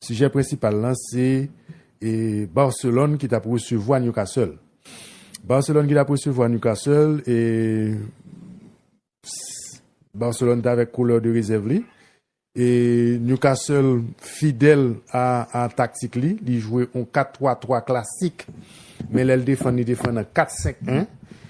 Sijè prensipal lan se Barcelone ki tap resevwa Newcastle. Barcelone ki tap resevwa Newcastle e Barcelone ta avèk koulè de rezèv li. E Newcastle fidèl a taktik li, li jwe yon 4-3-3 klasik. Men lèl defann li defann an 4-5-1.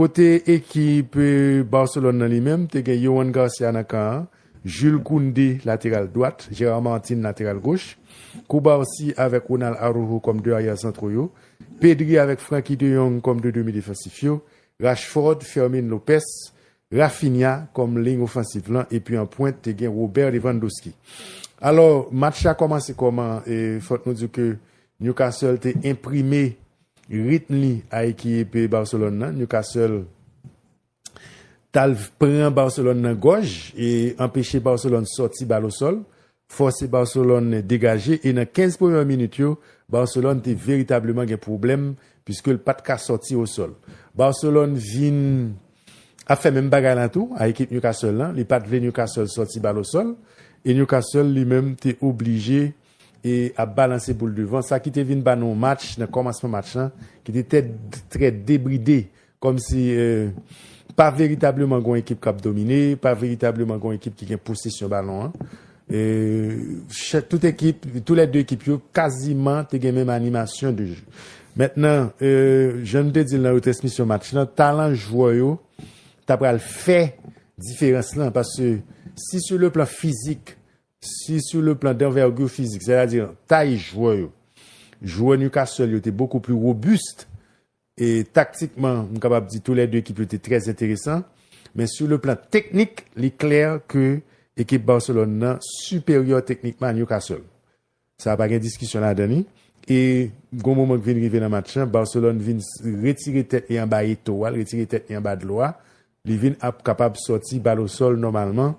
Kote ekip Barcelone nan li menm, te gen Yohan Garcia nan kan an, Jules Koundé lateral dwat, Gérard Martin lateral goch, Cubarsí avèk Ronald Araujo kòm 2 aryè santro yo, Pedri avèk Frenkie de Jong kòm 2 demi defansif yo, Rashford, Fermin Lopez, Raphinha kòm liy ofansiv lan epi an pwent te gen Robert Lewandowski. Alò match la kòmanse kòman e fòk nou di w ke Newcastle te enprime Ritm li a ekipe Barcelone nan, Newcastle t al pran Barcelone nan gòj e anpeche Barcelone sòti bal osòl, fòse Barcelone degaje e nan 15 premè minit yo, Barcelone te veritableman gen pwoblèm piske l pat ka sòti osòl. Barcelone vin ap fè menm bagay la tou a ekip Newcastle lan, li pat vle Newcastle sòti bal osòl e Newcastle li menm te oblije e ap balanse pou l devan, sa ki te vin ba nou yon match nan kòmansman match lan ki te tè trè debride, kòm si pa veritableman gen yon ekip k ap domine, pa veritableman gen yon ekip ki gen posesyon balon an. Tout ekip, tou lè de ekip yo kaziman te gen menm animasyon de je. Mentnan, jan nou te di l nan retransmisyon match lan, talan jwè yo ta pral fè diferans lan, paske si sou le plan fizik, Si sou le plan d'envergure physique, sètadi nan tay jwè yo, jwè Newcastle yo te bokou pli robust e taktikman m kapab di tou lè 2 ekip yo te trè enteresan, men sou le plan teknik li klè ke ekip Barcelone nan siperyè teknikman a Newcastle. Sa pa gen diskisyon ladan li e gon moman ki vin rive nan match lan Barcelone vin retire tèt li anba Eto'o a, li retire tèt li anba dlo a, li vin ap kapab sòti bal o sòl nòmalman.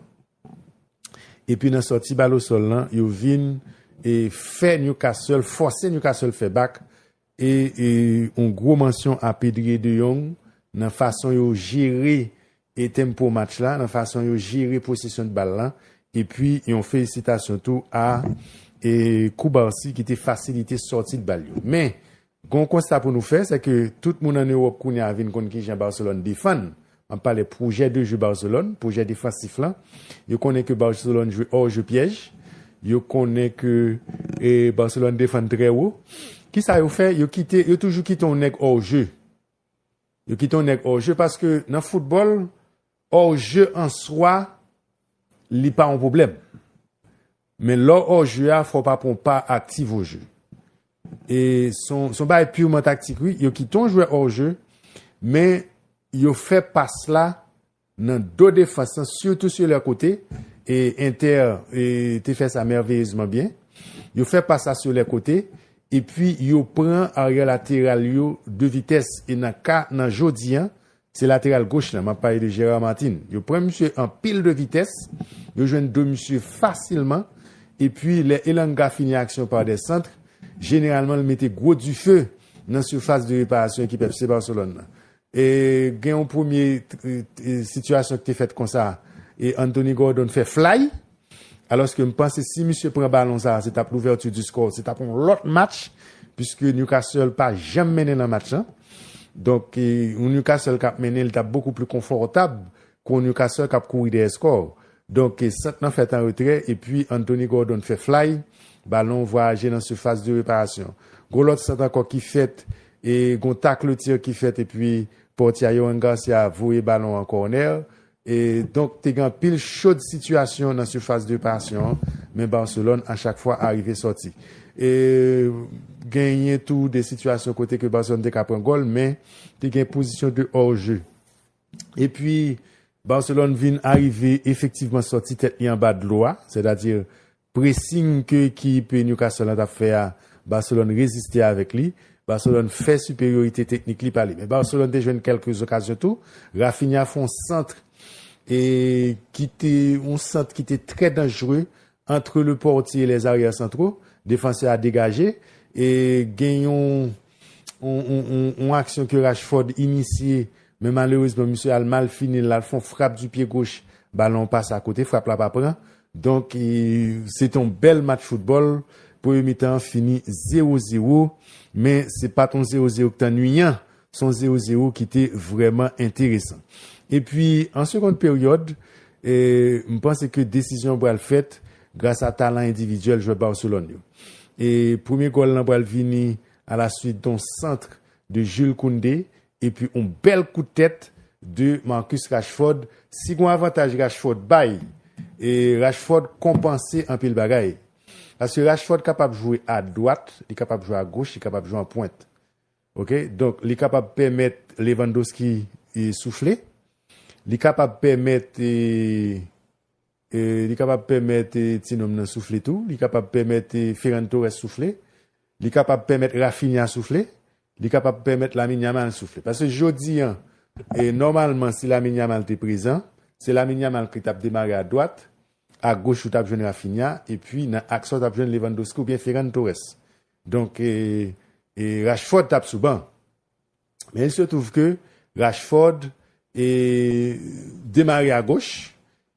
Epi nan sòti bal o sòl lan yo vin e fè Newcastle fòse Newcastle fè bak e yon gwo mansyon a Pedrie de Jong nan fason yo jere e tempo match la nan fason yo jere posesyon de bal lan epi yon felisitasyon tou a e Cubarsí ki te fasilite sòti de bal yo men Gen yon konsta pou nou fè, sèke tout moun an Ewòp kounye a vin konn kijan Barcelone defann, map pale pwojè de jeu Barcelone, pwojè defansif lan, yo konnen ke Barcelone jwe hors jeu piège, yo konnen ke Barcelone defann trè wo. Kisa yo fè? Yo kite, yo toujou kite yon nèg hors jeu. Yo kite yon nèg hors jeu paske nan foutbòl, hors jeu an swa li pa yon pwoblèm. Men lè w ò jeu a fò w pa pran w pa aktiv o jeu. E s on s on bagay purement taktik wi, yo kite yon jwè ò jeu men yo fè pas la nan do defans lan sitou su lè kote e Inter te fè sa merveilleusement byen. Yo fè pas la su lè kote epi yo pran arrière lateral yo de vitès e nan ka nan jodi an Se lateral goch lan, map pale de Gerard Martin. Yo pran misye an pil de vitès, yo jwenn do misye fasilman, epi lè Elanga fini aksyon pa dè santre, jeneralman l mete gwo dife nan sifas de reparasyon ekip FC Barcelone lan. E gen yon premye sitiyasyon ki te fèt konsa, e Anthony Gordon fè flay. Alòske m panse si misye pran balon sa a se t ap l'ouverture du score, se t ap yon lòt match puiske Newcastle pa janm mennen nan match lan. Donk yon Newcastle k ap mennen li t ap bokou pli konfòtab ke yon Newcastle k ap kouri dèyè score. Donk sant lan fèt an retrè epi Anthony Gordon fè flay, balon vwayaje nan surface de reparation. Gon lòt sant ankò ki fèt e gon tacle-tir ki fèt epi pòtye a Yohan Garcia voye balon an corner. E donk te gen anpil chod sitiyasyon nan surface de passion an, men Barcelone a chak fwa arive sòti. E genyen tou de sitiyasyon kote ke Barcelone te ka pran gòl, men te gen pozisyon de hors jeu. E pwi Barcelone vin arive efektivman sòti tèt li anba dlo a, sètadi Pressing ke ekip Newcastle la tap fè a, Barcelone reziste avèk li. Barcelone fè superiorite teknik li pa li. Men Barcelone te jwenn kèlke okazyon tou. Raphinha fè yon centre e ki te yon centre ki te trè danjre entre le portier et les arrières centraux. Defansè a degaje e gen yon yon aksyon ke Rashford inisye men malerezman misye al mal fini l, lal fè yon frap du pied gauche, balon an pase a kote, frap la pa pran. Donk se te yon bèl match foutbòl, premye mitan an fini zewo zewo, men se pa t yon zewo zewo ki te annuiyan, se yon zewo zewo ki te vrèman enteresan. Epi an segond peryòd, m panse ke desizyon pral fèt gras a talan endividyèl jwè Barcelone yo. E premye gòl lan pral vini a la suit don centre de Jules Koundé Epi yon bèl kout tèt de Marcus Rashford, si gon avantaj Rashford bay, e Rashford konpanse anpil bagay. Paske Rashford kapab jwe a dwat, li kapab jwe a goch, li kapab jwe an pwent. Ok, donk li kapab pèmèt Lewandowski soufle, li kapab pèmèt e. Li kapab pèmèt tinonm nan soufle tou. Li kapab pèmèt Ferran Torres soufle. Li kapab pèmèt Raphinha soufle. Li kapab pèmèt Lamine Yamal soufle. Paske jodi an, nòmalman si Lamine Yamal te prezan, se Lamine Yamal ki t ap demare a dwat, a goch ou t ap jwenn Raphinha, epi nan aks la ou t ap jwenn Lewandowski oubyen Ferran Torres. Donk Rashford t ap sou ban. Men il se trouve ke Rashford demare a goch,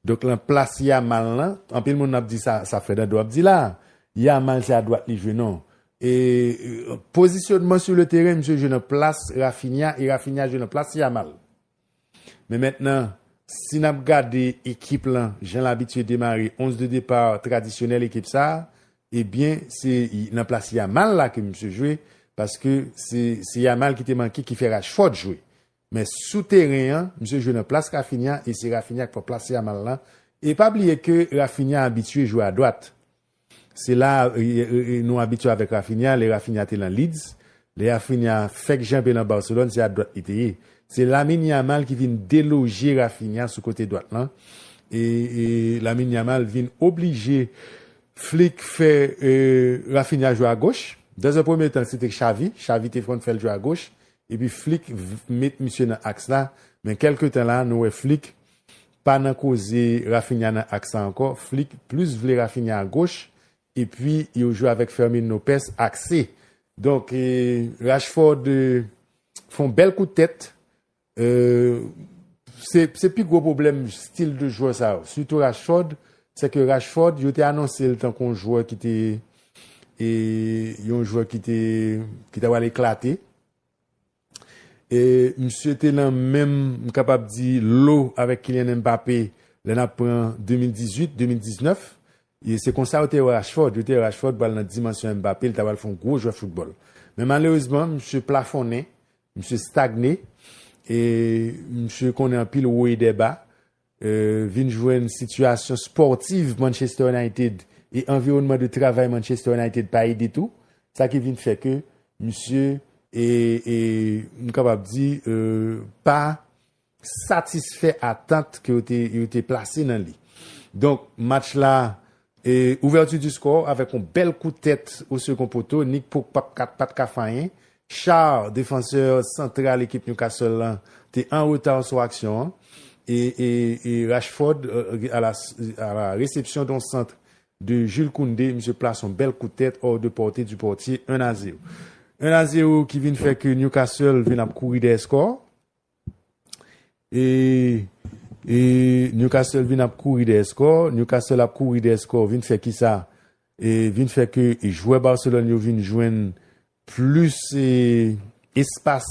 donk lan plas Yamal lan, anpil moun ap di sa Fernando ap di la a, Yamal se a dwat li jwe non. E pozisyonman sur le terrain misye jwe nan plas Raphinha e Raphinha jwe nan plas Yamal. Men mentnan, si n ap gade ekip lan jan l abitye demare, 11 de départ tradisyonèl ekip sa, ebyen se nan plas Yamal la ke misye jwe, paske se Yamal ki te manke ki fè Rashford jwe. Men sou teren an, misye jwe nan plas Raphinha e se Raphinha k pran plas Yamal lan. E pa bliye ke Raphinha abitye jwe adwat. Se la a nou abitye avèk Raphinha, lè Raphinha te lan Leeds, lè Raphinha fèk janbe lan Barcelone se a dwat li te ye. Se Lamine Yamal ki vin deloje Raphinha sou kote dwat lan e Lamine Yamal vin oblije Flick fè Raphinha jwe a goch. Dans un premier temps se te Xavi, Xavi te konn fè l jwe a goch epi Flick met misye nan aks la men kèlke tan la nou wè Flick Pa nan koze Raphinha nan aks sa ankò, Flick plus vle Raphinha a goch epi yo jwe avèk Fermin Lopes akse. Donk Rashford fon bèl kout tèt, se pi gwo pwoblèm stil de jwè sa yo, sitou Rashford, se ke Rashford yo te anonse l tankou yon jwè ki te yon jwè ki te ki ta pral eklate. E misye te nan menm m kapab di lo avèk Kylian Mbappé lè n ap pran 2018, 2019. E se konsa yo te wè Rashford. Yo te wè Rashford pral nan dimansyon Mbappé, li ta pral fè yon gwo jwè foutbòl. Men malerezman, misye plafonnen, misye stagne e misye konnen anpil wo e dè ba. vin jwenn sitiyasyon spòtiv Manchester United e anviwònman de travay Manchester United pa ede tou, sa ki vin fè ke misye e e m kapab di pa satisfè atant ke yo te plase nan li. Donk match la e ouverture du score avèk yon bèl kout tèt o second poteau Nick Pope pat ka fè anyen Schär, defansè santral ekip Newcastle la, te an reta sou aksyon an e Rashford a la resepsyon don centre de Jules Koundé, misye plase yon bèl kout tèt hors de portée du portier 1 a 0. 1 a 0 ki vin fè ke Newcastle vin ap kouri dèyè score e Newcastle vin ap kouri dèyè score, Newcastle ap kouri dèyè score vin fè kisa? Vin fè ke jwè Barcelone yo vin jwenn Plis espas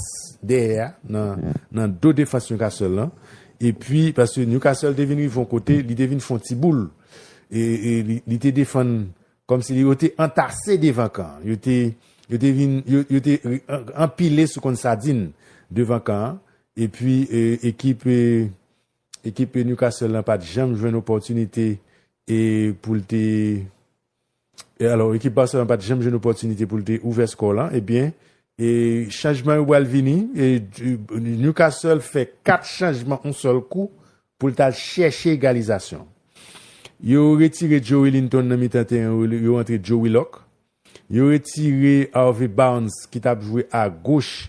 dèyè a nan do defans Newcastle lan. Epi paske Newcastle te vin rive yon kote, li te vin fè yon ti boul. E li te defann kòm si yo te antase devan kan an. Yo te yo te anpile sou konn sadin devan kan an. Epi ekip ekip Newcastle lan pa t janm jwenn opòtinite pou l te. E alò ekip Barcelone pat janm jwenn opòtinite pou l te ouvè skò lan ebyen e chanjman yo pral vini e Newcastle fè 4 chanjman on sèl kou pou l tal chèche egalizasyon. Yo retire Joelinton nan mitan teren yo antre Joe Willock. Yo retire Harvey Barnes ki tap jwe a goch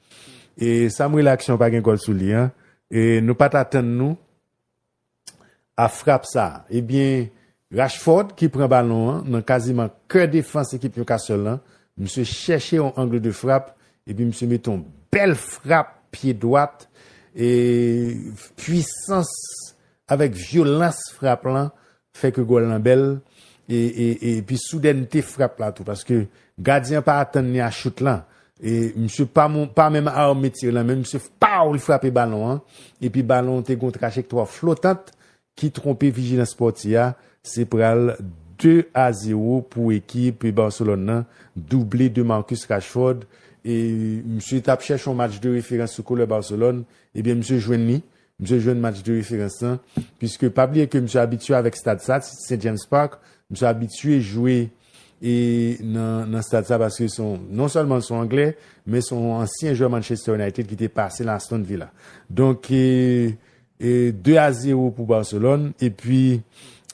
E sam rele aksyon pa gen gòl sou li an e nou pat atann nou a frap sa ebyen Rashford ki pran balon an nan kaziman kè defans ekip Newcastle lan misye chèche yon angle de frap epi misye mete yon bèl frap pye dwat e pwisans avèk vyolans frap lan fè ke gòl lan bèl e pi soudènte frap la tou paske gadyen an pa atann li a chout lan e misye pa menm arme tir lan men misye fpaw li frape balon an epi balon an te gen yon trajektwa flotant ki twonpe vijilans pòtye a se pral 2 a 0 pou ekip Barcelone lan double de Marcus Rashford e misye tap chèche yon match de referans sou couleur Barcelone ebyen misye jwenn li Misye jwenn match de referans lan, piske pa bliye ke misye abitye avèk stad sa, St. James Park, misye abitye jwe nan stad sa paske se yon, non sèlman l se yon anglè, men se yon ansyen jwè Manchester United ki te pase nan Aston Villa. Donk, 2 a 0 pou Barcelone, epi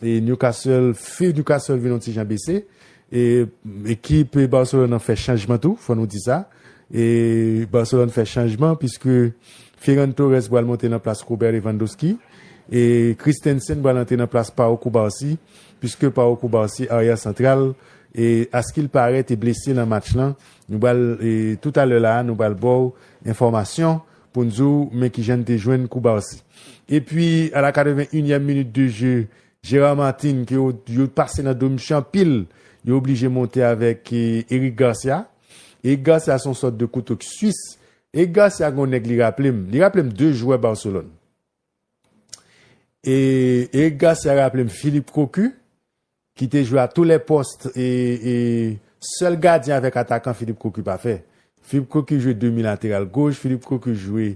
Newcastle, few Newcastle vin yon ti jan bese. E ekip Barcelone an fè chanjman tou, fò nou di sa. E Barcelone fè chanjman piske Ferran Torres pral monte nan plas Robert Lewandowski. E Christensen pral antre nan plas Pau Cubarsí piske Pau Cubarsí aryè santral e askil parè te blese nan match lan. Nou pral e tout alè la a nou pral ba w enfòmasyon pou n di w men kijan n te jwenn Cubarsí. Epi a la 81 nyèm minit de je Gérard Martin ke yo pase nan do misye anpil, yo oblije monte avèk Eric Garcia. Eric Garcia se yon sòt de kouto ki swis. Eric Garcia gen yon nèg li raple m, li raple m 2 jwè Barcelone. Eric Garcia raple m Philippe Cocu ki te jwe a tou lè pòst e sèl gadyen avèk atakan Philippe Cocu pa fè. Philippe Cocu jwe demi lateral goch, Philippe Cocu jwe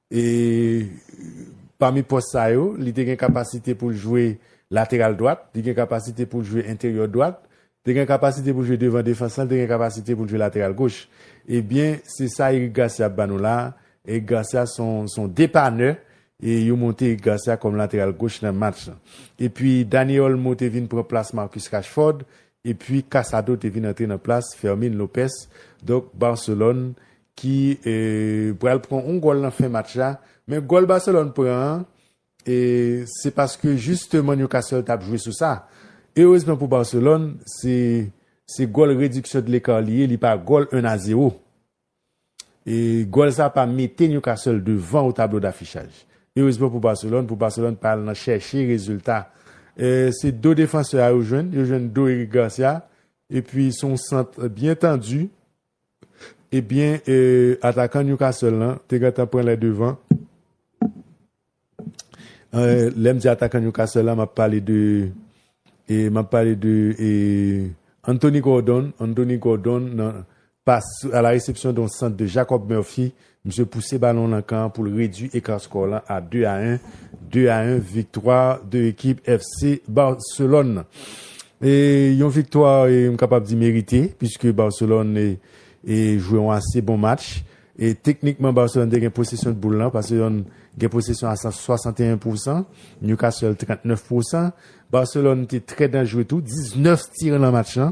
E pami pòs sa yo, li te gen kapasite pou l jwe lateral dwat, li gen kapasite pou l jwe enteryò dwat, te gen kapasite pou l jwe devan defans lan, te gen kapasite pou l jwe lateral goch. Ebyen, se sa Eric Garcia ap ba nou la a. Eric Garcia se yon depanè e yo monte Eric Garcia kòm lateral goch nan match lan. Epi Dani Olmo te vin pran plas Marcus Rashford epi Casado te vin antre nan plas Fermin Lopez. Donk Barcelone ki pral pran on gòl nan fen match la, men gòl Barcelone pran an se paske jisteman Newcastle tap jwe sou sa. Erezman pou Barcelone se gòl rediksyon de lekar li ye, li pa gòl 1 a 0. Gòl sa pa mete Newcastle devan o tablo dafichaj. Erezman pou Barcelone, pou Barcelone pa al nan chèche rezilta. Se do defansè a yo jwenn, yo jwenn do Eric Garcia, epi son sant byen tandi. Ebyen atakan Newcastle lan te gentan pran lè devan. Lè m di atakan Newcastle la m ap pale de m ap pale de Anthony Gordon, Anthony Gordon nan pas a la resepsyon de yon sant de Jacob Murphy Misye pouse balon nan kan pou l redui eka skò lan a 2 a 1. 2 a 1 viktwa 2 ekip FC Barcelòn. E yon viktwa m kapab di merite piske Barcelòn e jwe yon ase bon match. E teknikman Barcelòn te gen posesyon boul lan. Barcelòn gen posesyon a 61 pousan. Newcastle 39 pousan. Barcelòn te trè danjre tou. 19 tir nan match lan.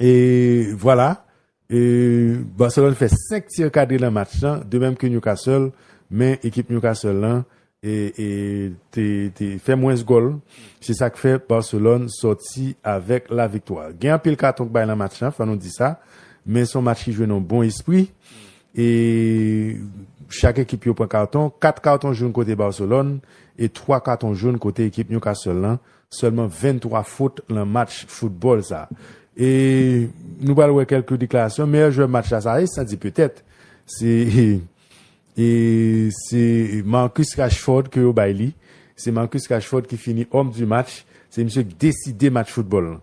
E vwala, Barcelone fè 5 tir kadre nan match lan, de menm ke Newcastle, men ekip Newcastle lan te fè mwens gòl, se sa k fè Barcelone sòti avèk la viktwa. Gen anpil katon k bay nan match lan, fò nou di sa, men se yon match ki jwe nan yon bon espri, e chak ekip yo pran katon, 4 katon joun kote Barcelone, e 3 katon joun kote ekip Newcastle lan, Sèlman 23 fot lan match foutbòl sa. E nou pral wè kèlke deklarasyon. Meyè jwè match la sa ye san di petèt. Se e se Marcus Rashford ke yo bay li. Se Marcus Rashford ki fini homme du match. Se misye ki deside match foutbòl lan.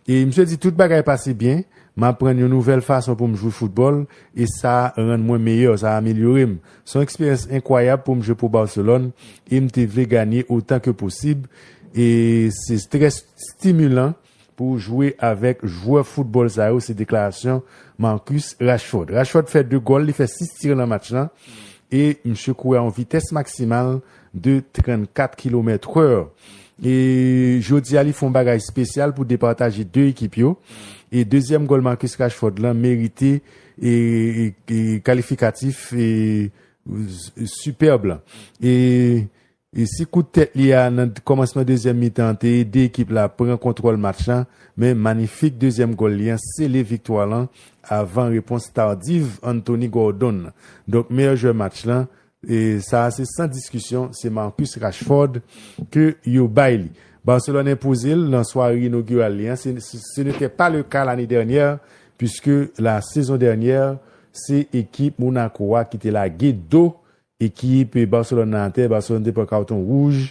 E misye di tout bagay pase byen. M aprann yon nouvèl fason pou m jwe foutbòl e sa rann mwen meyè, sa amelyore m. Se yon eksperyans enkwayab pou m jwe pou Barcelone e m te vle ganye otan ke posib e se trè stimilan pou w jwe avèk jwè foutbòl sa yo, se deklarasyon Marcus Rashford. Rashford fè 2 gòl, li fè 6 tir nan match lan e misye kouri a yon vitès maksimal de 34 kilomèt wè e jodi a li fè yon bagay espesyal pou departaje 2 ekip yo e dezyèm gòl Marcus Rashford lan merite kalifikatif sipèb la. E si kout tèt li a nan kòmansman dezyèm mitan an te ede ekip la pran kontwòl match la, men manifik dezyèm gòl li an sele viktwa lan avan repons tardiv Anthony Gordon. Donk meyè jwè match la, E sa a se san diskisyon, se Marcus Rashford ke yo bay li. Barcelone enpoze l nan sware inogiral li an, se ne tè pa le ka lane dènyè, puiske la sezon dènyè, se ekip Monaco a ki te lage do ekip Barcelone nan atè, Barcelone te pran karton wouj,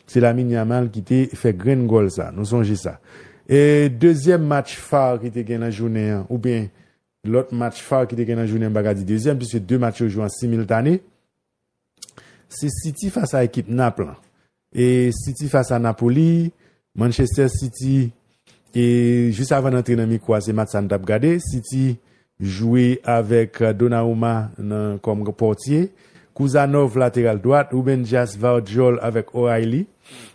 se Lamine Yamal ki te fè grenn gòl sa, nou sonje sa. E dezyèm match phare ki te gen nan jounen an, oubyen, Lòt match phare ki te gen nan jounen an m pa ka di dezyèm puiske 2 match yo jwe an similtane se City fas a ekip Nap lan e City fas a Napoli, Manchester City e jis avan n antre nan mikwo a se match sa n t ap gade City jwe avèk Donarouma nan kòm pòtye, Kuzanov lateral dwat, Ruben Dias, Vardyol avèk O'Reilly,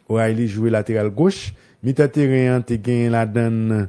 O'Reilly jwe lateral goch, mitan teren an te gen ladan l